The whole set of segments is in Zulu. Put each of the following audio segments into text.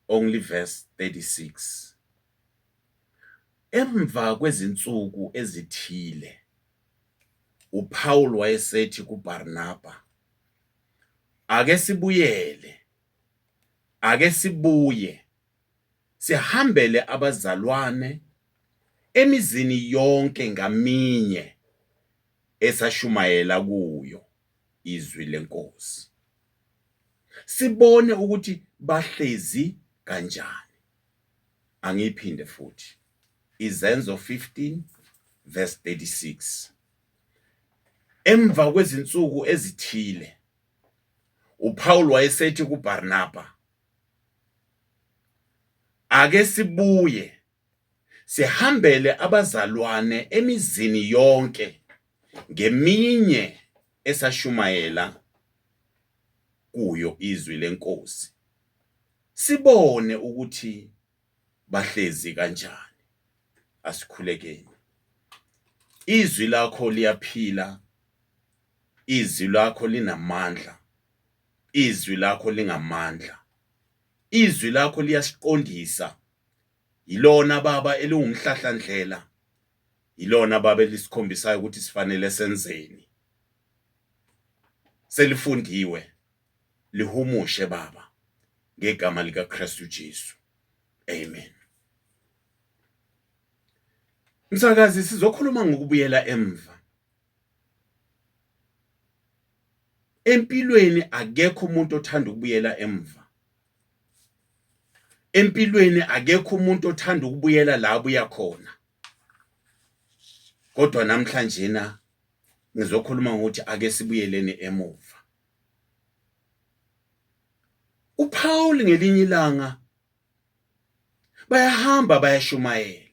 only verse 36 emva kwezinsuku ezithile uPaul wayesethi kuBarnaba ake sibuyele ake sibuye sihambele abazalwane emizini yonke ngaminye esashumayela kuyo izwi lenkosi. Sibone ukuthi bahlezi kanjani. Angiphinde futhi. Izenzo 15 verse 36. Emva kwezinsuku ezithile uPaul wayesethi kuBarnaba Ake sibuye Sihambele abazalwane emizini yonke ngeminye esashumayela kuyo izwi lenkosi sibone ukuthi bahlezi kanjani asikhulekeni izwi lakho liyaphila izwi lakho linamandla izwi lakho lingamandla izwi lakho liyasiqondisa Yilona baba eliwumhlahlandlela. Yilona baba elisikhombisayo ukuthi sifanele senzeni. Selifundiwe lihumushe baba ngegama lika Kristu Jesu. Amen. Msakazi sizokhuluma ngokubuyela emva. Empilweni akekho umuntu othanda ukubuyela emva. empilweni akekho umuntu othanda ukubuyela la abuya khona kodwa namhlanje na ngizokhuluma ngokuthi ake sibuyeleni emuva uPaul ngelinye ilanga bayahamba bayashumayela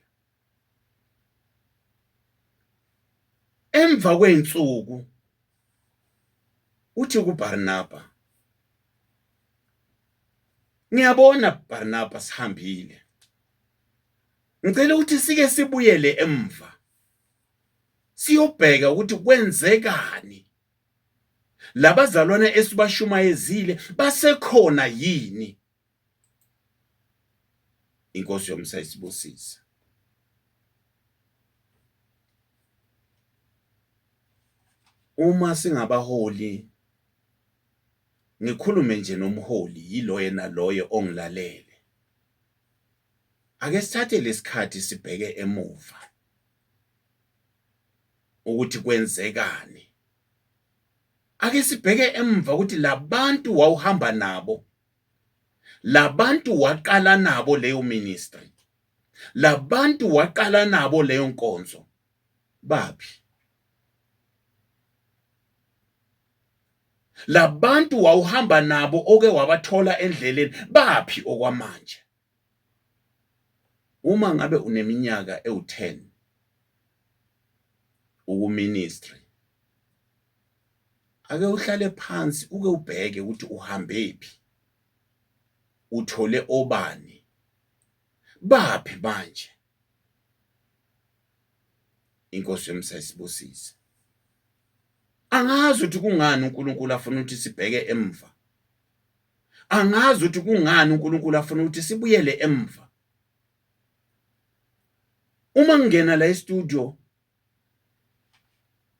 Emva kwey'nsuku uthi kuBarnaba, ngiyabona Barnaba sihambile ngicela ukuthi sike sibuyele emva siyobheka ukuthi kwenzekani labazalwane esibashumayezile basekhona yini inkosi yomsa isibusise uma singabaholi ngikhulume nje nomholi yilo yena loyo ongilalele ake sithathe lesikhathi sibheke emuva ukuthi kwenzekani ake sibheke emva ukuthi labantu wawuhamba nabo labantu waqala nabo leyo ministry labantu waqala nabo leyo nkonzo baphi labantu wawuhamba nabo oke wabathola endleleni baphi okwamanje Uma ngabe uneminyaka ewu-10 ukuministry ake uhlale phansi uke ubheke ukuthi uhambephi uthole obani baphi manje inkosi yomsayisibusise angazi ukuthi kungani uNkulunkulu afuna ukuthi sibheke emva angazi ukuthi kungani uNkulunkulu afuna ukuthi sibuyele emva uma ngingena la e-studio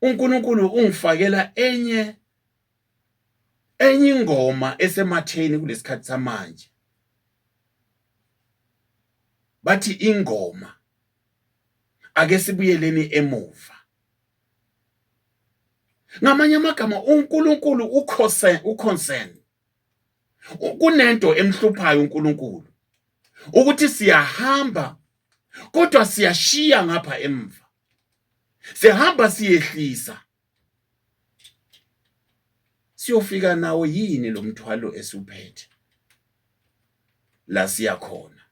uNkulunkulu ungifakela enye enye ingoma esematheni kulesikhathi samanje bathi ingoma ake sibuyeleni emuva ngamanye amagama uNkulunkulu ukhose uconcern kunento emhluphayo uNkulunkulu ukuthi siyahamba kodwa siyashiya ngapha emva sihamba siyehlisa siyofika nawo yini lo mthwalo esuphethe la siyakhona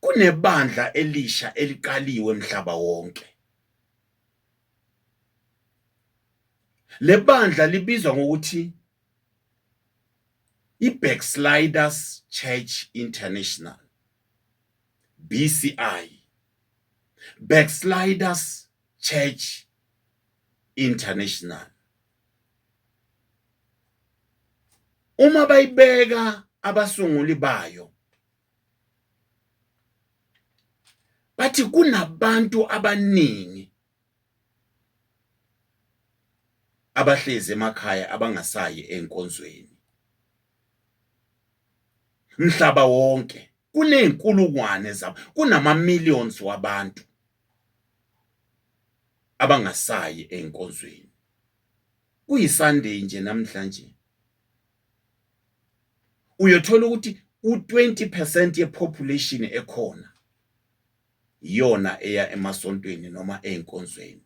kunebandla elisha eliqaliwe emhlaba wonke lebandla libizwa ngokuthi iBacksliders Church International BCI Backsliders Church International uma bayibeka abasunguli bayo bathi kunabantu abaningi abahlezi emakhaya abangasayi enkonzweni mhlaba wonke kuney'nkulungwane zabo kunama-millions wabantu abangasayi ey'nkonzweni kuyisunday nje namhlanje uyothola ukuthi u-20 percent yepopulation ekhona iyona eya emasontweni noma ey'nkonzweni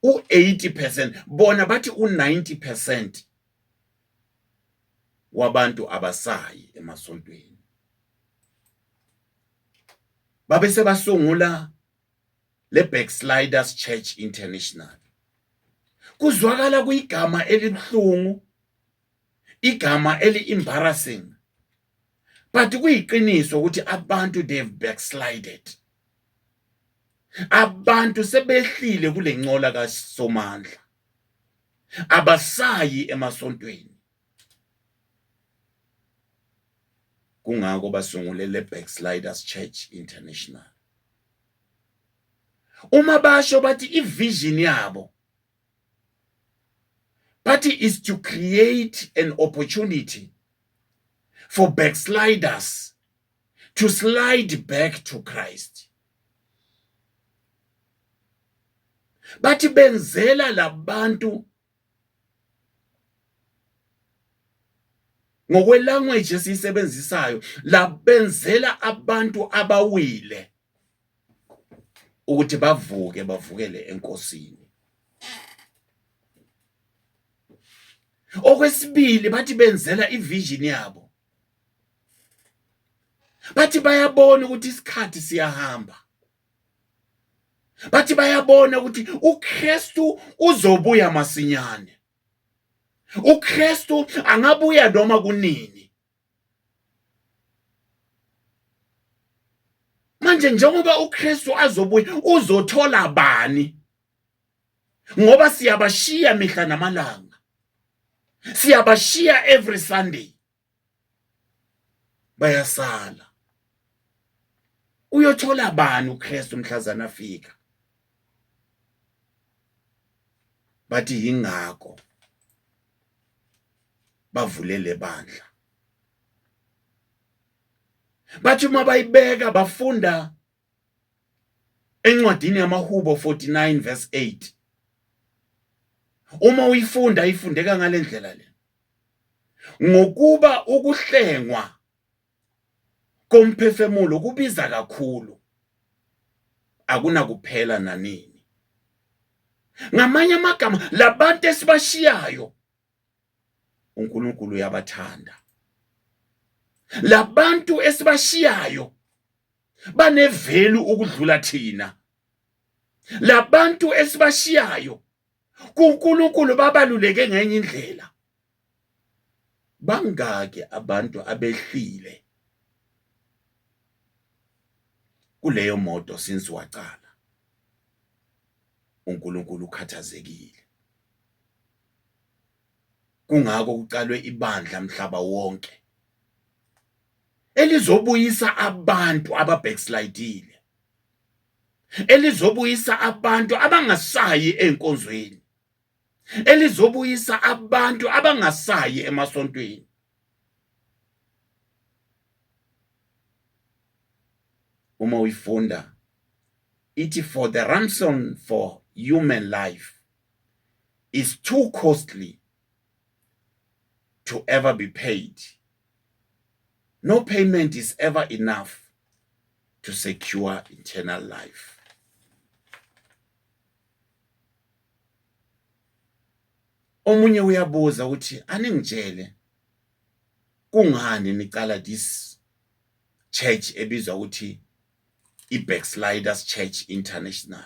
u-80 percent bona bathi u-90 percent wabantu abasayi emasontweni babe sebasungula le Backsliders Church International kuzwakala kuyigama elibuhlungu igama eli embarrassing but kuyiqiniso ukuthi abantu they've backslided abantu sebehlile kulencola kaSomandla abasayi emasontweni kungako basungule le Backsliders Church International uma basho bathi ivision yabo bathi is to create an opportunity for backsliders to slide back to Christ bathi benzela labantu ngokwelanguage esiyisebenzisayo labenzela abantu abawile ukuthi bavuke bavukele enkosini okwesibili bathi benzela ivision yabo bathi bayabona ukuthi isikhathi siyahamba bathi bayabona ukuthi uKristu uzobuya masinyane uKristu angabuya noma kunini manje njengoba uKristu azobuya uzothola bani ngoba siyabashiya mihla namalanga siyabashiya every sunday bayasala uyothola bani uKristu mhlazana afika bathi yingakho bavulele bandla bathi uma bayibeka bafunda encwadini yamaHubo 49 verse 8 uma uyifunda ifundeka ngalendlela le ngokuba ukuhlengwa komphefemulo kubiza kakhulu akunakuphela nanini ngamanye amagama labantu esibashiyayo uNkulunkulu uyabathanda labantu esibashiyayo banevelu ukudlula thina labantu esibashiyayo kuNkulunkulu babaluleke ngenye indlela bangaki abantu abehlile kuleyo moto since waqala uNkulunkulu ukhathazekile kungako kuqalwe ibandla mhlaba wonke elizobuyisa abantu ababackslidile elizobuyisa abantu abangasayi enkonzweni elizobuyisa abantu abangasayi emasontweni uma uyifunda ithi for the ransom for human life is too costly to ever be paid. No payment is ever enough to secure eternal life. omunye uyabuza ukuthi aningitshele kungani niqala this church ebizwa ukuthi i-backsliders church international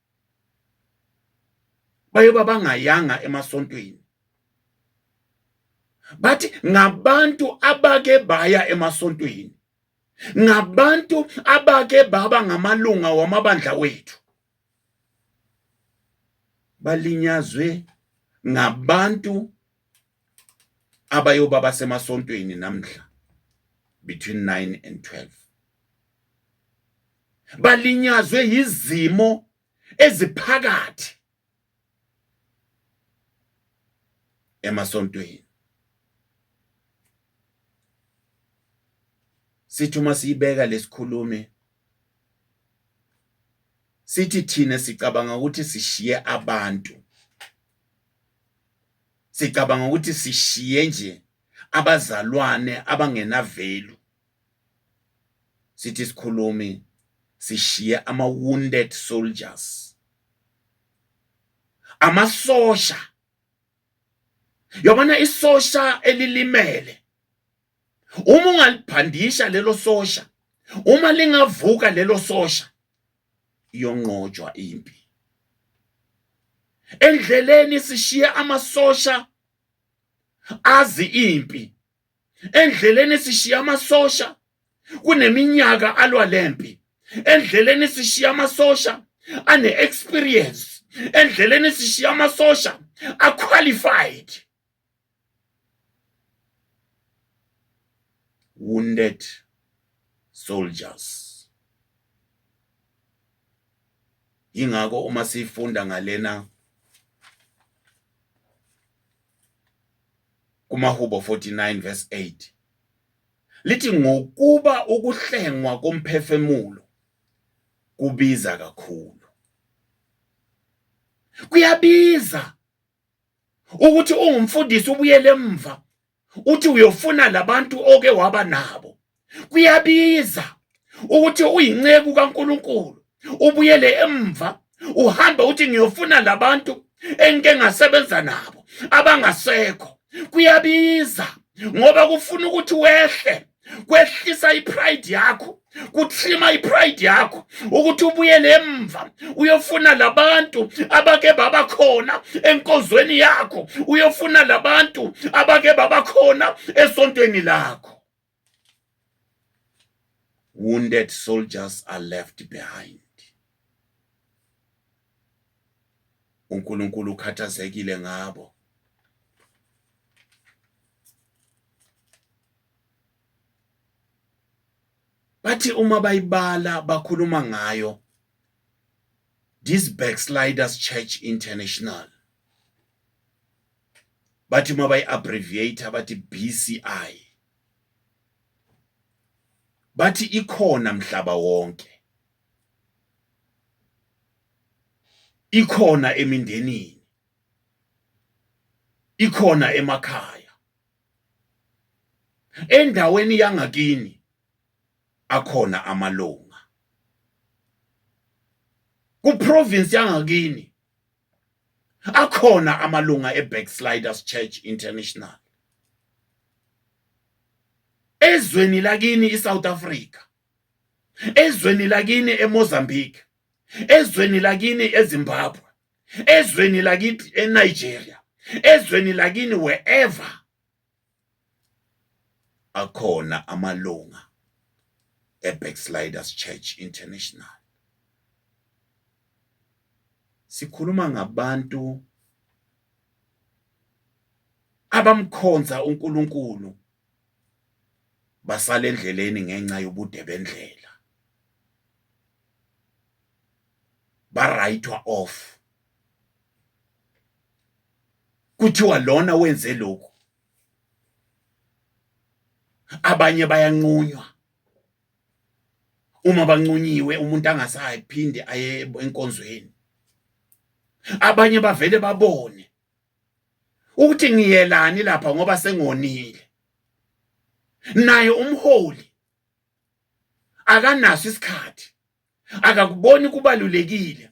bayoba bangayanga emasontweni bathi ngabantu abake baya emasontweni ngabantu abake baba ngamalunga wamabandla wethu balinyazwe ngabantu abayoba basemasontweni namhla between 9 and 12 balinyazwe yizimo eziphakathi emasontweni sithi uma siyibeka lesikhulumi sithi thina sicabanga ukuthi sishiye abantu sicabanga ukuthi sishiye nje abazalwane abangenavelu sithi sikhulumi sishiye ama wounded soldiers amasosha yabona isosha elilimele uma ungaliphandisha lelo sosha uma lingavuka lelo sosha yonqotshwa impi endleleni sishiye amasosha azi impi endleleni sishiye amasosha kuneminyaka alwa lempi endleleni sishiye amasosha ane experience endleleni sishiya amasosha aqualified wounded soldiers ingakho uma sifunda ngalena kumahubo 49 verse 8 lithi ngokuba ukuhlengwa komphefemulo kubiza kakhulu kuyabiza ukuthi ungumfundisi ubuyele emva uthi uyofuna labantu oke waba nabo kuyabiza ukuthi uyinceku kaNkuluNkulu ubuyele emva uhambe uthi ngiyofuna labantu engike ngasebenza nabo abangasekho kuyabiza ngoba kufuna ukuthi wehle kwehlisa ipride yakho kuthima ipride yakho ukuthi ubuyele emva uyofuna labantu abake baba khona enkozweni yakho uyofuna labantu abake baba khona esontweni lakho wounded soldiers are left behind uNkulunkulu ukhathazekile ngabo bathi uma bayibala bakhuluma ngayo this backsliders church international bathi uma bayi-abbreviate bathi bci bathi ikhona mhlaba wonke ikhona emindenini ikhona emakhaya endaweni yangakini akhona amalunga kuprovince yangakini akhona amalunga eBacksliders Church International ezweni lakini iSouth Africa ezweni lakini eMozambique ezweni lakini eZimbabwe ezweni lakithi eNigeria ezweni lakini wherever akhona amalunga eBacksliders Church International sikhuluma ngabantu abamkhonza uNkulunkulu basala endleleni ngenxa yobude bendlela barayithwa off kuthiwa lona wenze lokhu abanye bayanqunywa uma bancunyiwe umuntu angasayi phinde aye enkonzweni abanye bavele babone ukuthi ngiyelani lapha ngoba sengonile naye umholi akanaso isikhathi akakuboni kubalulekile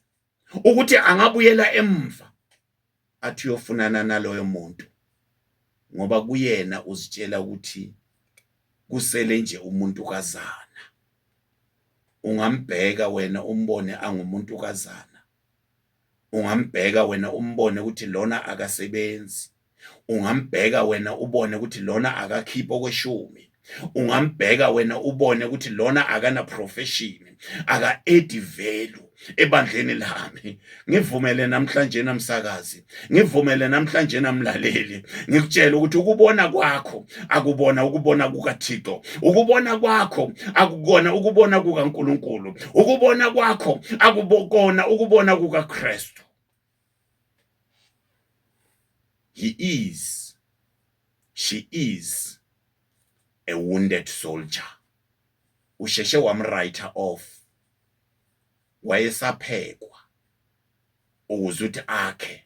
ukuthi angabuyela emva athi uyofunana naloyo muntu ngoba kuyena uzitshela ukuthi kusele nje umuntu kazana ungambheka wena umbone angumuntu kazana ungambheka wena umbone ukuthi lona akasebenzi ungambheka wena ubone ukuthi lona akakhiphi okweshumi ungambheka wena ubone ukuthi lona akana profession aka edi value ebandleni lami ngivumele namhlanje namsakazi ngivumele namhlanje namlaleli ngikutshela ukuthi ukubona kwakho akubona ukubona kukaThixo ukubona kwakho akukona ukubona kukaNkulunkulu ukubona kwakho akubokona ukubona kukaKristu he is she is a wounded soldier usheshe wamwriter off wayesaphekwa ukuze uthi akhe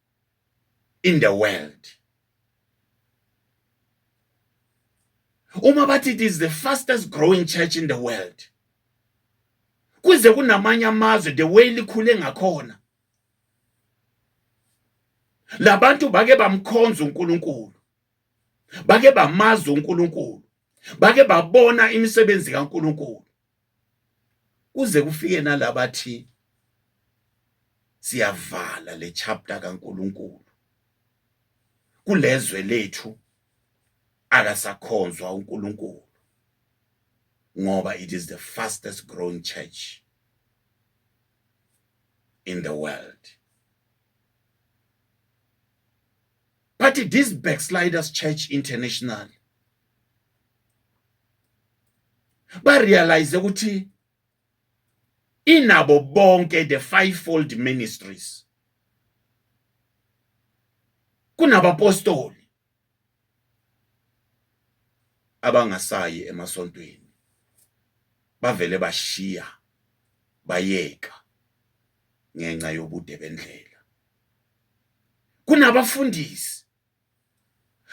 in the world uma bathi it is the fastest growing church in the world kuze kunamanye amazwe the way likhule ngakhona labantu bake bamkhonza uNkulunkulu bake bamaza uNkulunkulu bake babona imisebenzi kaNkulunkulu kuze kufike nalabathi siyavala le chapter kaNkuluNkulu kulezwe lethu akasakhonzwa uNkulunkulu ngoba it is the fastest growing church in the world but this backsliders church international barealize ukuthi inabo bonke the fivefold ministries kunabapostoli abangasayi emasontweni bavele bashiya bayeka ngenxa yobude bendlela kunabafundisi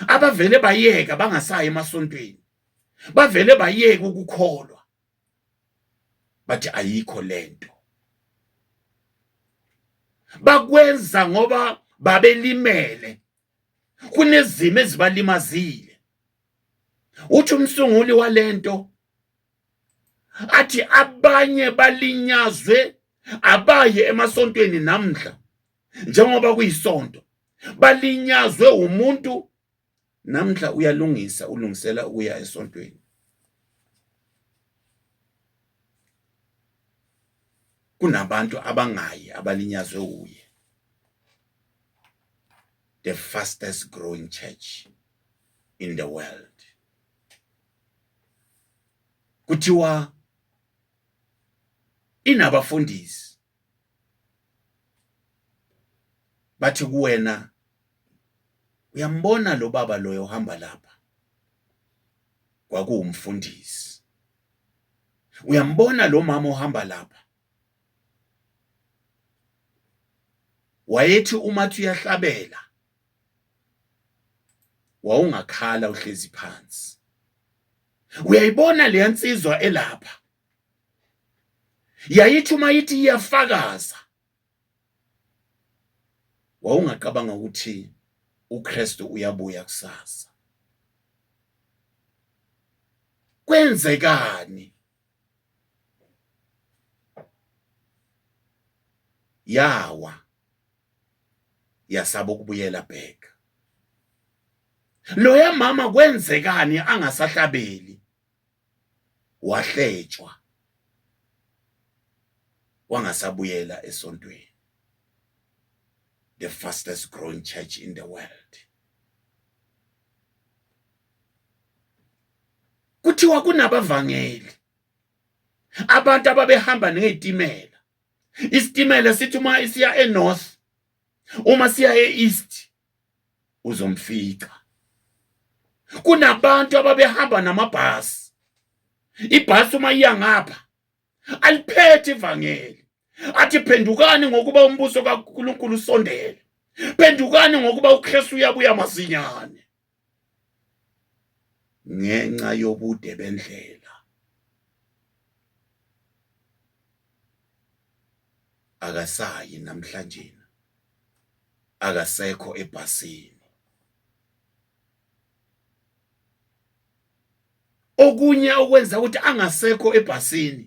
abavele bayeka bangasayi emasontweni bavele bayeka ukukholwa bathi ayikho lento bakwenza ngoba babelimele kunezimo ezibalimazile uthi umsunguli walento athi abanye balinyazwe abaye emasontweni namhla njengoba kuyisonto balinyazwe umuntu namhla uyalungisa ulungisela ukuya esontweni kunabantu abangayi abalinyazwe uye the fastest growing church in the world kuthiwa inabafundisi bathi kuwena uyambona lo baba loyo ohamba lapha kwakuwumfundisi uyambona lo mama ohamba lapha wayethi uma uyahlabela wawungakhala uhlezi phansi uyayibona leya nsizwa elapha yayithi uma ithi iyafakaza wawungacabanga ukuthi uKristu uyabuya kusasa kwenzekani yawa yasaba ukubuyela back loya mama kwenzekani angasahlabeli wahletshwa wangasabuyela esontweni the fastest growing church in the world kuthiwa kunabavangeli abantu ababehamba ngezitimela isitimela sithi uma isiya enorth uma siya east uzomfica kunabantu ababehamba namabhasi ibhasi uma iya ngapha aliphethe ivangeli athi phendukani ngokuba umbuso kaNkulunkulu usondele phendukani ngokuba uKristu uyabuya masinyane ngenxa yobude bendlela akasayi namhlanje akasekho ebhasini okunye okwenza ukuthi angasekho ebhasini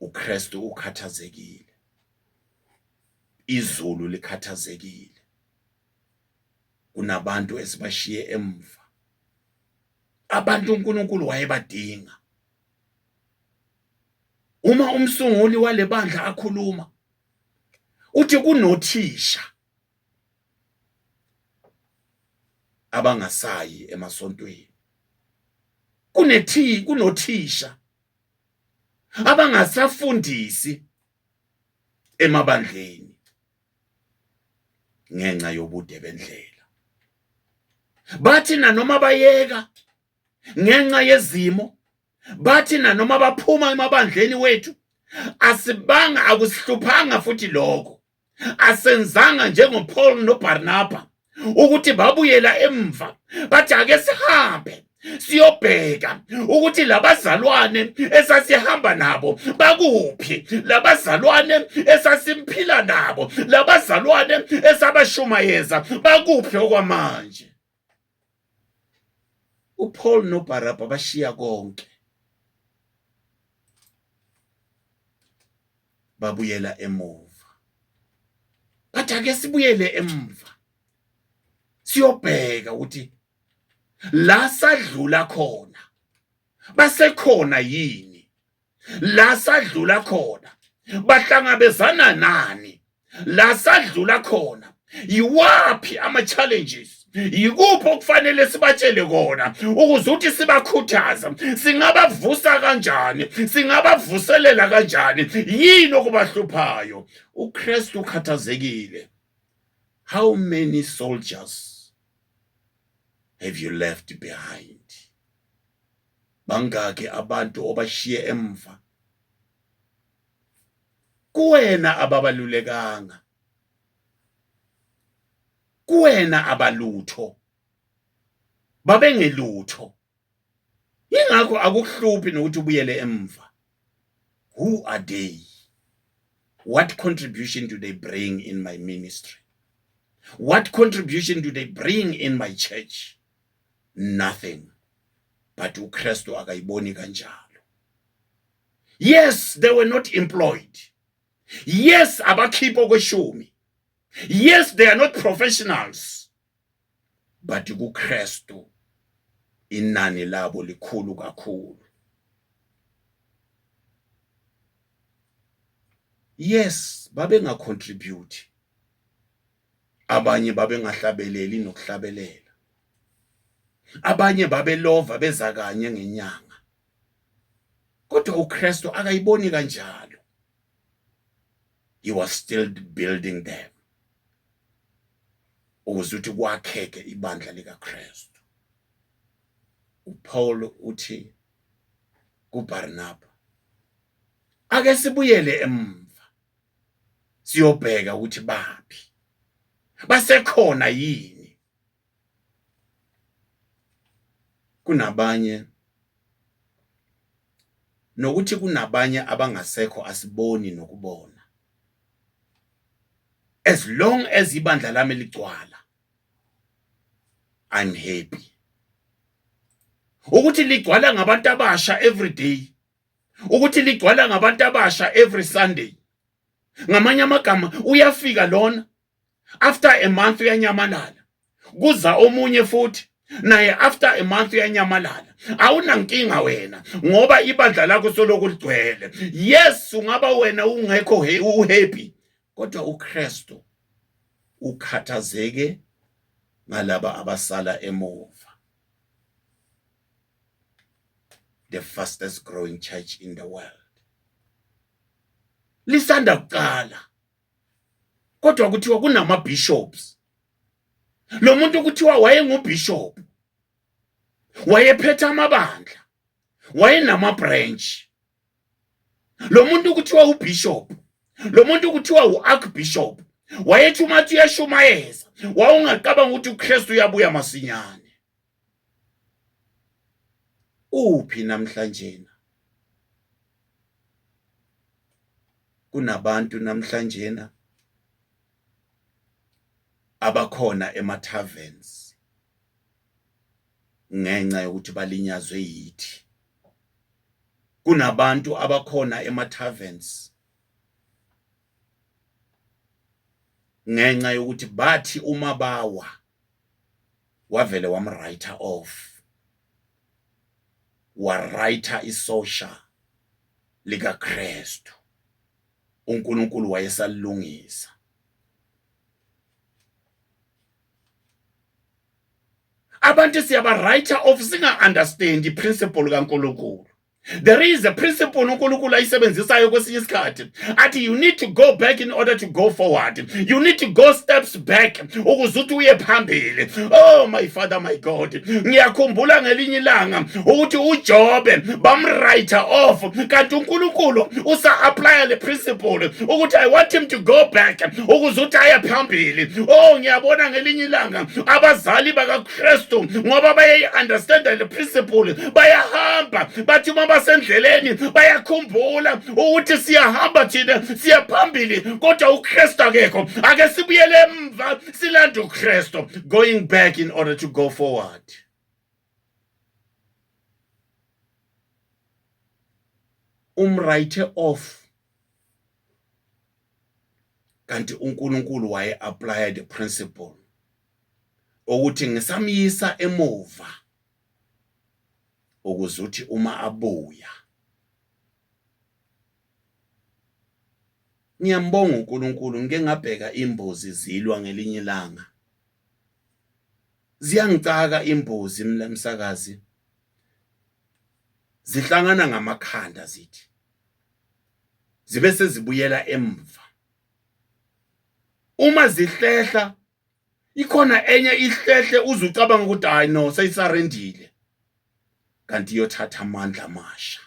uKristu ukhathazekile izulu likhathazekile kunabantu esibashiye emva abantu uNkulunkulu wayebadinga uma umsunguli walebandla akhuluma uthi kunothisha abangasayi emasontweni kunethi kunothisha abangasafundisi emabandleni ngenxa yobude bendlela bathi nanoma bayeka ngenxa yezimo bathi nanoma baphuma emabandleni wethu asibanga akusihluphanga futhi lokho asenzanga njengoPaul noBarnaba ukuthi babuyela emva bathi ake sihambe siyobheka ukuthi labazalwane esasihamba nabo bakuphi labazalwane esasimphila nabo labazalwane esabashumayeza bakuphi okwamanje uPaul noBarabha bashiya konke babuyela emuva bathi ake sibuyele emuva siyobheka ukuthi la sadlula khona basekhona yini la sadlula khona bahlangabezana nani la sadlula khona yiwaphi ama-challenges yikuphi okufanele sibatshele kona ukuze ukuthi sibakhuthaza singabavusa kanjani singabavuselela kanjani yini okubahluphayo ukristu ukhathazekile how many soldiers have you left behind bangaki abantu obashiye emva kuwena ababalulekanga kuwena abalutho babengelutho ingakho akuhluphi nokuthi ubuyele emva who are they what contribution do they bring in my ministry what contribution do they bring in my church nothing but uKristu akayiboni kanjalo yes they were not employed yes abakhipha okweshumi yes they are not professionals but kuKristu inani labo likhulu kakhulu yes babengacontribute abanye babengahlabeleli nokuhlabelela abanye babelova beza kanye ngenyanga kodwa uKristu akayiboni kanjalo he was still building them ukuze ukuthi kwakheke ibandla likaKristu uPaul uthi kuBarnaba ake sibuyele emva siyobheka ukuthi baphi basekhona yini kunabanye nokuthi kunabanye abangasekho asiboni nokubona as long as ibandla lami ligcwala i'm happy ukuthi ligcwala ngabantu abasha every day ukuthi ligcwala ngabantu abasha every sunday ngamanye amagama uyafika lona after a month uyanyamalala kuza omunye futhi naye after a month uyanyamalala awunankinga wena ngoba ibandla lakho soloku ligcwele yes ungaba wena ungekho uhappy kodwa uKristu ukhathazeke ngalaba abasala emuva the fastest growing church in the world lisanda kuqala kodwa kuthiwa kunama bishops lo muntu kuthiwa wayengubishop wayephethe amabandla wayenama branch lo muntu kuthiwa ubishop lo muntu kuthiwa uarchbishop wayethi umathi uyashumayeza wawungacabanga ukuthi uKristu uyabuya masinyane uphi namhlanjena kunabantu namhlanjena abakhona ema taverns ngenxa yokuthi balinyazwe yithi kunabantu abakhona ema taverns ngenxa yokuthi bathi uma bawa wavele wamwriter off wariter isosha likaKristu uNkulunkulu wayesalilungisa abantu siyaba writer off singa understand iprinciple kaNkulunkulu there is a principle uNkulunkulu ayisebenzisayo kwesinye isikhathi athi you need to go back in order to go forward you need to go steps back ukuze uthi uye phambili oh my father my god ngiyakhumbula ngelinye ilanga ukuthi uJobe bamwrite off kanti uNkulunkulu usa apply le principle ukuthi i want him to go back ukuze uthi aye phambili oh ngiyabona ngelinye ilanga abazali baka kristu ngoba bayayi-understanda le principle bayahamba bathi uma basendleleni bayakhumbula ukuthi siyahamba thina siya phambili kodwa ukristu akekho ake sibuyele emva silande ukristu going back in order to go forward umwrite off kanti uNkulunkulu waye apply the principle ukuthi ngisamyisa emuva ukuze uthi uma abuya ngiyambonga uNkulunkulu ngike ngabheka imbuzi zilwa ngelinye ilanga ziyangicaka imbuzi msakazi zihlangana ngamakhanda zithi zibe sezibuyela emva uma zihlehla ikhona enye ihlehle uze ucabanga ukuthi hayi no seyisarendile kanti iyothatha amandla amasha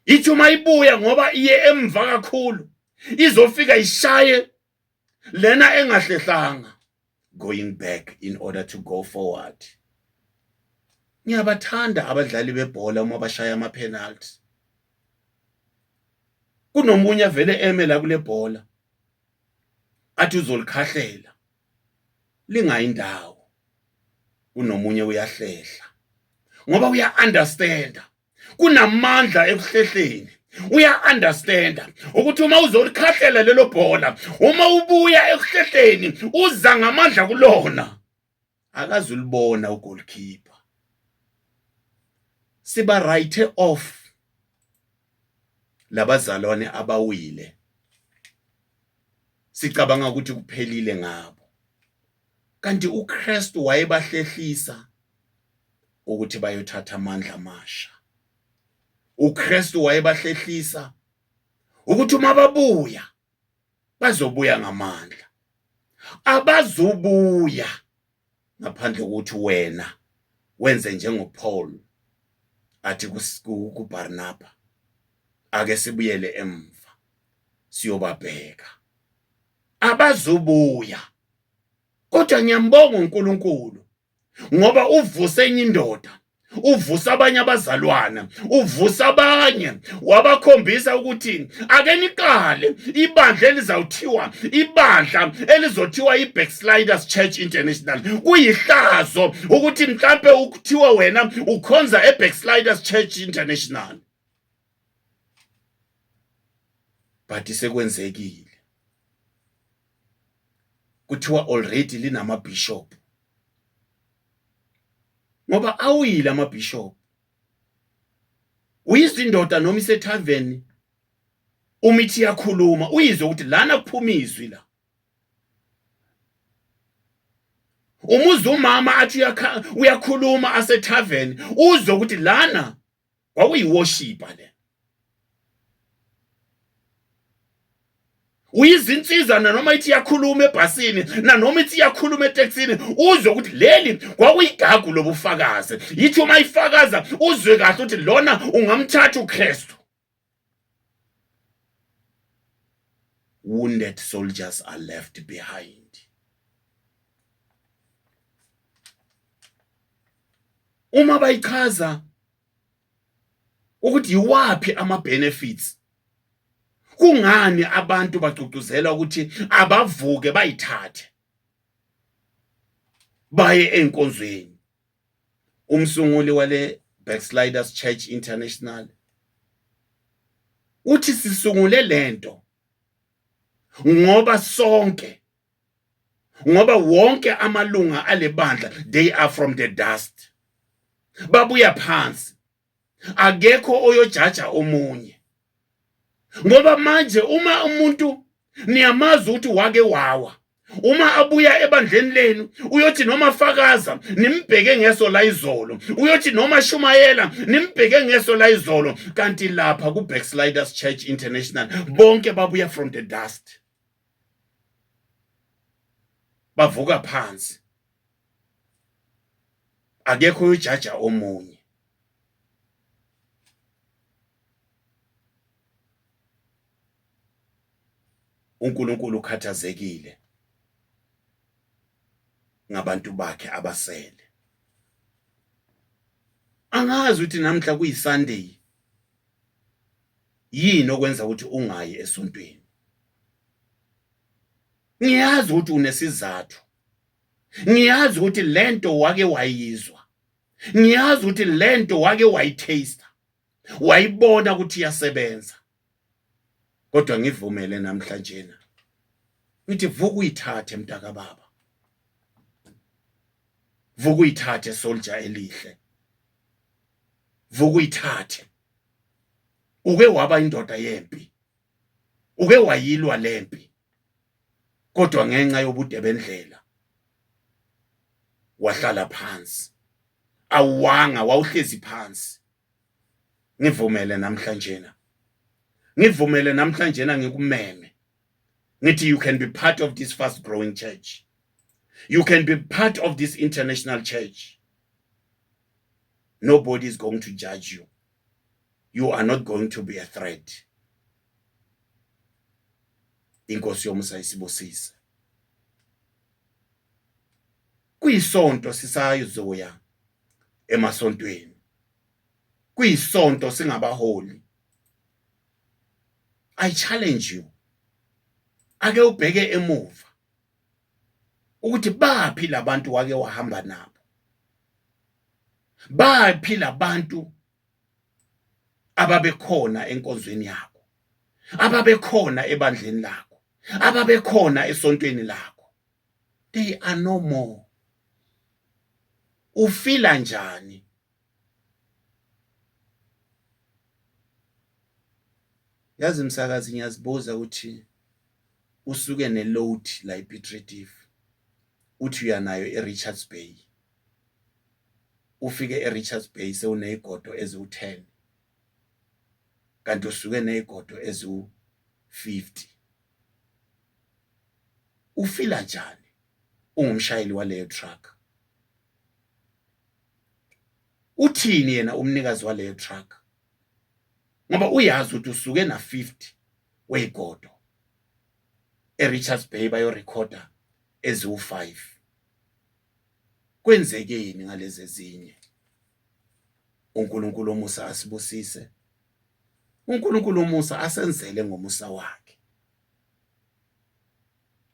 ithi uma ibuya ngoba iye emva kakhulu izofika ishaye lena engahlehlanga going back in order to go forward ngiyabathanda abadlali bebhola uma bashaya ama penalty kunomunye vele eme la kule bhola athi uzolikhahlela lingayindawo kunomunye uyahlehla ngoba uya understanda kunamandla ekuhlehleni uya understanda ukuthi uma uzolikhahlela lelo bhola uma ubuya ekuhlehleni uza ngamandla kulona akazulibona ugoalkeeper siba right off labazalwane abawile sicabanga ukuthi kuphelile ngabo kanti uKristu wayebahlehlisa ukuthi bayothatha amandla amasha uKristu wayebahlehlisa ukuthi uma babuya bazobuya ngamandla abazubuya ngaphandle kokuthi wena wenze njengoPaul athi kuBarnaba ake sibuyele emva siyobabheka abazubuya kodwa ngiyambonga uNkulunkulu ngoba uvusa enye indoda uvusa abanye abazalwana uvusa abanye wabakhombisa ukuthi ake niqale ibandla elizawuthiwa ibandla elizothiwa i-backsliders church international kuyihlazo ukuthi mhlampe ukuthiwe wena ukhonza e-backsliders church international but sekwenzekile kuthiwa already linama bishop ngoba awuyile ama bishop uyizindoda noma isethaveni uma ithi yakhuluma uyizwe ukuthi lana kuphuma izwi la umuzi umama athi uyakhuluma asethaveni uzwe ukuthi lana kwakuyiworshipa le uyizinsiza nanoma ithi iyakhuluma ebhasini nanoma ithi iyakhuluma eteksini uzwe ukuthi leli kwakuyigagu lobufakazi yithi uma ifakaza uzwe kahle ukuthi lona ungamthatha uKristu Wounded soldiers are left behind. Uma bayichaza ukuthi yiwaphi ama benefits kungani abantu bagcugcuzela ukuthi abavuke bayithathe baye enkonzweni umsunguli wale Backsliders Church International uthi sisungule lento ngoba sonke ngoba wonke amalunga alebandla they are from the dust babuya phansi akekho oyojaja omunye ngoba manje uma umuntu niyamazi ukuthi wake wawa uma abuya ebandleni lenu uyothi noma fakaza nimbheke ngeso la izolo uyothi noma shumayela nimbheke ngeso la izolo kanti lapha ku Backsliders Church International bonke babuya from the dust bavuka phansi akekho ujaja omunye uNkulunkulu ukhathazekile ngabantu bakhe abasele angazi ukuthi namhla kuyiSunday yini okwenza ukuthi ungayi esontweni ngiyazi ukuthi unesizathu ngiyazi ukuthi lento wake wayizwa ngiyazi ukuthi lento wake wayitaste wayibona ukuthi iyasebenza kodwa ngivumele namhlanje na ngithi vuka uyithathe mntaka baba vuka uyithathe soldier elihle vuka uyithathe uke waba indoda yempi uke wayilwa lempi kodwa ngenxa yobude bendlela wahlala phansi awuwanga wawuhlezi phansi ngivumele namhlanje na ngivumele namhlanje na ngikumeme ngithi you can be part of this fast growing church you can be part of this international church nobody is going to judge you you are not going to be a threat inkosi yomusa isibusise kuyisonto sisayizoya emasontweni kuyisonto singabaholi i challenge you ake ubheke emuva ukuthi baphi labantu wake wahamba nabo baphi labantu ababekhona enkonzweni yakho ababekhona ebandleni lakho ababekhona esontweni lakho they are no more ufila njani yazi msakazi ngiyazibuza ukuthi usuke ne load la ePitredive uthi uyanayo eRichards Bay ufike eRichards Bay sewunezigodo eziwu-10 kanti usuke nezigodo eziwu-50 ufila njani ungumshayeli waleyo truck uthini yena umnikazi waleyo truck ngoba uyazi ukuthi usuke na 50 weyigodo eRichards Bay bayorecorda eziwu5 kwenzekeni ngalezi ezinye uNkulunkulu omusa asibusise uNkulunkulu omusa asenzele ngomusa wakhe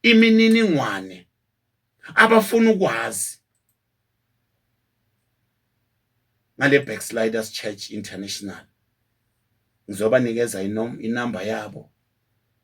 imininingwane abafuna ukwazi ngale Backsliders Church International ngizobanikeza inumber yabo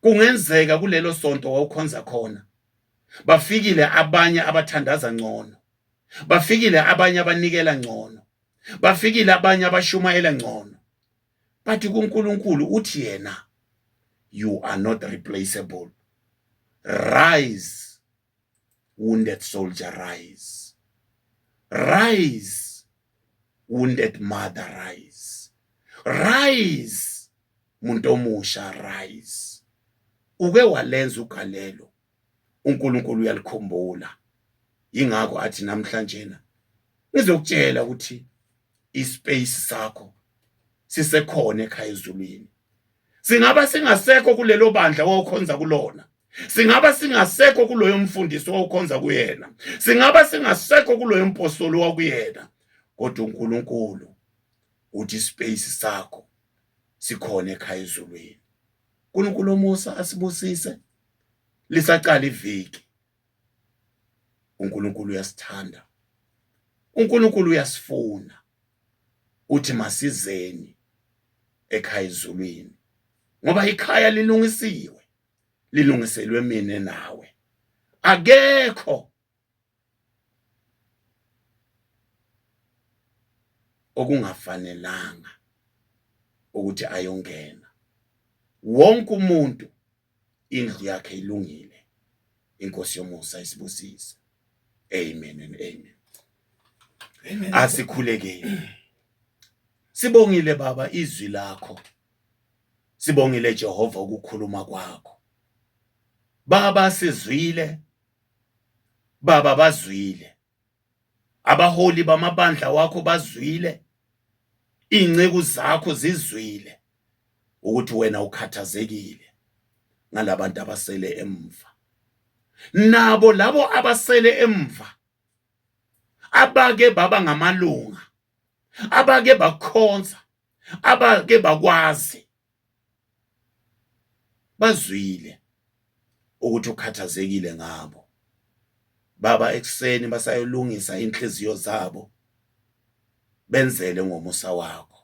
Kungenzeka kulelo sonto wawukhonza khona bafikile abanye abathandaza ngcono, bafikile abanye abanikela ngcono, bafikile abanye abashumayela ngcono. But kuNkulunkulu uthi yena you are not replaceable. Rise wounded soldier rise rise wounded mother rise rise muntu omusha rise uke walenza ugalelo uNkulunkulu uyalikhumbula ingakho athi namhlanje na ngizokutshela ukuthi ispace sakho sisekhona ekhaya ezulwini singaba singasekho kulelo bandla wawukhonza kulona singaba singasekho kuloyo mfundisi wawukhonza kuyena singaba singasekho kuloyo mpostoli wakuyena kodwa uNkulunkulu uthi ispace sakho sikhona ekhaya ezulwini uNkulunkulu omusa asibusise lisaqala iviki uNkulunkulu uyasithanda uNkulunkulu uyasifuna uthi masizeni ekhaya ezulwini ngoba ikhaya lilungisiwe lilungiselwe mina nawe akekho okungafanelanga ukuthi ayongena wonke umuntu indlu yakhe ilungile inkosi yomusa isibusise amen and amen asikhulekeni sibongile baba izwi lakho sibongile Jehova ukukhuluma kwakho baba sizwile baba bazwile abaholi bamabandla wakho bazwile inceku zakho zizwile ukuthi wena ukhathazekile ngalabantu abasele emva nabo labo abasele emva abake baba ngamalunga abake bakhonza abake bakwazi bazwile ukuthi ukhathazekile ngabo baba ekuseni basayolungisa inhliziyo zabo benzele ngomusa wakho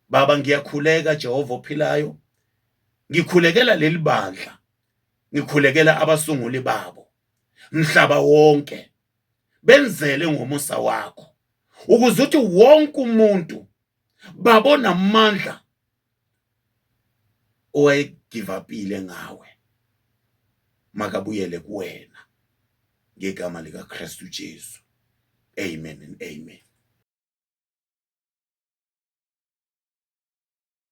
baba ngiyakhuleka Jehova ophilayo ngikhulekela leli bandla ngikhulekela abasunguli babo mhlaba wonke benzele ngomusa wakho ukuze uthi wonke umuntu baba onamandla owayegivapile ngawe makabuyele kuwena ngegama likaKristu Jesu amen and amen